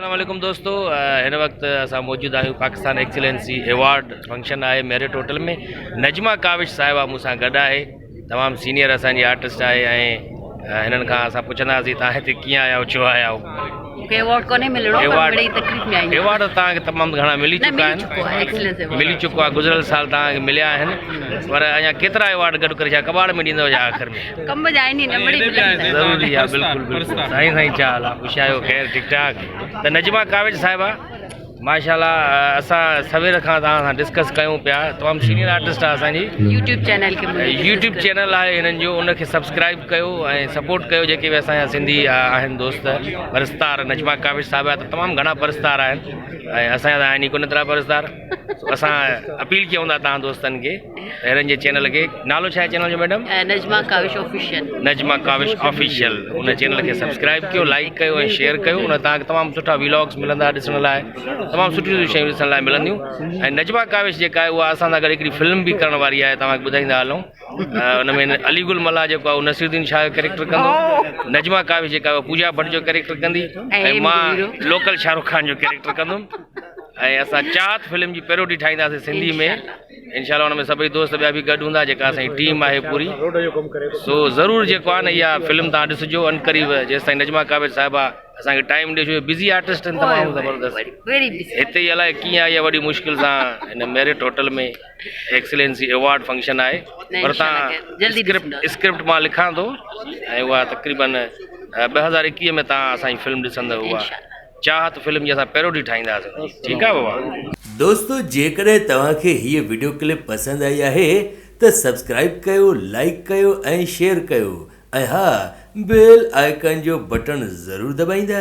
اسلام عليڪم دوستو هن وقت اسان موجود آهيون پاڪستان ايڪسلنسي ايوارڊ فنڪشن آهي ميريٽ هوٽل ۾ نجما ڪاوش صاحبه مون سان گڏ آهي تمام سينيئر اسانجي آرٽسٽ آهي ۽ هنن کان اسان پڇنداسين تان هتي ڪيئن آيا آهيو ڇو آيا آهيو ايوارڊ ڪونهي ملڻو ايوارڊ مڙي تقريب ۾ آهي ايوارڊ تان کي تمام گھڻا ملي چڪا آهن ايڪسلنس ايوارڊ ملي چڪو آهي گذريل سال تان کي مليا آهن پر اڃا ڪيترا ايوارڊ گڏ ڪري ڇا ڪٻاڙ ۾ ڏيندو يا آخر ۾ ڪم جا اني نمڙي ملن ضروري آ بلڪل بلڪل سائين سائين چا حال آ خوش آيو خير ٺيڪ ٺاڪ ته نجما ڪاويچ صاحبا ماشاءالله اسان سوير کان تان سان ڊسڪس ڪيون پيا تمام سينيئر آرٽسٽ آ اسان جي يوٽيوب چينل کي يوٽيوب چينل آ انن جو ان کي سبسڪرائب ڪيو ۽ سپورٽ ڪيو جيڪي وي اسان سنڌي آهن دوست پرستار نجما ڪاويچ صاحبا تمام گهڻا پرستار آهن ۽ اسان جا اني ڪونه ترا پرستار اسان اپيل ڪيون ٿا تان دوستن کي هيرن جي چينل کي نالو ڇا چينل جو madam Najma Kawish official Najma Kawish official ان چينل کي سبسڪرائب ڪيو لائڪ ڪيو ۽ شيئر ڪيو ان تان تمام سٺا ويلاگز ملندا ڏسڻ لاء تمام سٺي سٺي شيون ڏسڻ لاء ملنديون ۽ نجما ڪاوش جيڪا آهي اها اسان سان گڏ هڪڙي فلم به ڪرڻ واري آهي توهان کي ٻڌائيندا هلون ان ۾ علي گل ملا جيڪو آهي نصير الدين شاهه جو ڪيريڪٽر ڪندو نجما ڪاوش جيڪا پوجا ڀٽ جو ڪيريڪٽر ڪندي مان لوڪل شاهه رخ خان جو ڪيريڪٽر ڪندم ۽ اسان چاهت فلم جي پيروڊي ٺاهينداسين سنڌي ۾ انشاء الله ان ۾ سڀئي دوست ٻيا به گڏ هوندا جيڪا اسان جي ٽيم آهي پوري سو ضرور جيڪو آهي نه اها فلم تان ڏسجو ان قريب جيس تائين نجما ڪاوير صاحبه اسان کي ٽائيم ڏي جو بزي آرٽسٽ آهن تمام زبردست هتي ئي الائي ڪيئن آئي وڏي مشڪل سان هن Marriott hotel ۾ excellency award function آهي پر تان اسڪرپٽ اسڪرپٽ مان لکان ٿو ۽ اها تقريبن ٻه هزار ايڪيهه ۾ تان اسان جي فلم ڏسندو هو چاهت فلم جي اسان پيروڊي ٺاهينداسين ٺيڪ آهي بابا. دوستو جيڪڏهن توهان کي هيء وڊيو ڪلپ پسند آئي آهي ته سبسڪرائيب ڪيو لائيڪ ڪيو ۽ شيئر ڪيو ۽ ها بيل آئيڪان جو بٽڻ ضرور دٻائيندا.